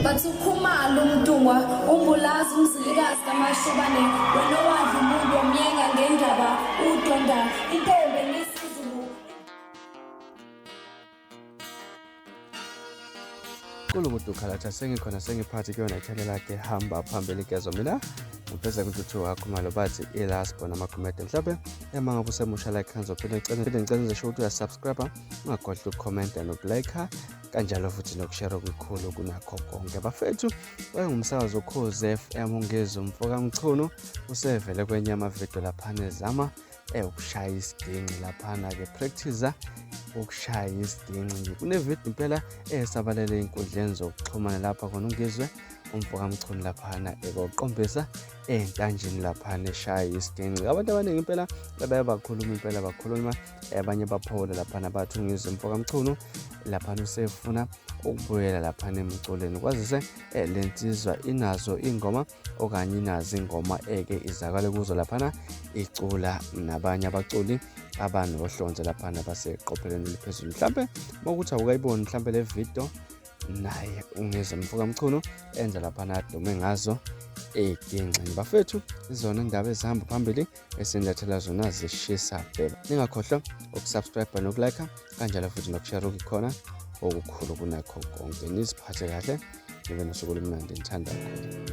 Bathi ukhumalo umntungwa umbulazi umzilikazi kamashobane wena owadla umuntu omyenga ngendaba udonda intombi ngesizulu kulu mudukhalatha sengikhona sengiphathi kuyona ithele lakhe hamba phambili gezo mina ngifeza kuthuthi wakho malo bathi ilast bona amakhomede mhlawumbe ema ngabe usemusha like hanzo phinde ngicela ngicela ngisho ukuthi uyasubscribe ungagodli ukukhomenta nokulike kanjalo futhi nokushera okukhulu kunakho konke bafethu wayengumsakazi okhozi FM ungezi umfokamchunu usevele kwenye amavidiyo laphana ezama eh, ukushaya isiginci laphana-ke practice ukushaya isiginci kunevidiyo impela esabalele ey'nkundleni zokuxhumana lapha khona ungizwe umfokamchunu laphana ekoqombisa entanjini laphana eshaya isiginci abantu abaningi impela bebaye bakhuluma impela bakhuluma abanye baphole laphana bathu ngizwe mfoka mchunu laphana usefuna ukubuyela laphana emculweni kwazise eh, le nsizwa inazo ingoma okanye inazo ingoma eke izakale kuzo laphana icula nabanye abaculi abanohlonze laphana baseqophelweni eliphezulu mhlampe mokuthi awukayiboni mhlampe le video naye ungizwe mfoka mchunu enza laphana adume ngazo eginxini bafethu izona indaba ezihamba phambili esinilethela zona zishisa bheba ningakhohlwa ukusubscribe nokulike kanjalo futhi nokushare okukhona okukhulu kunakho konke niziphathe kahle nibe nosuku olumnandi ngithanda kakhulu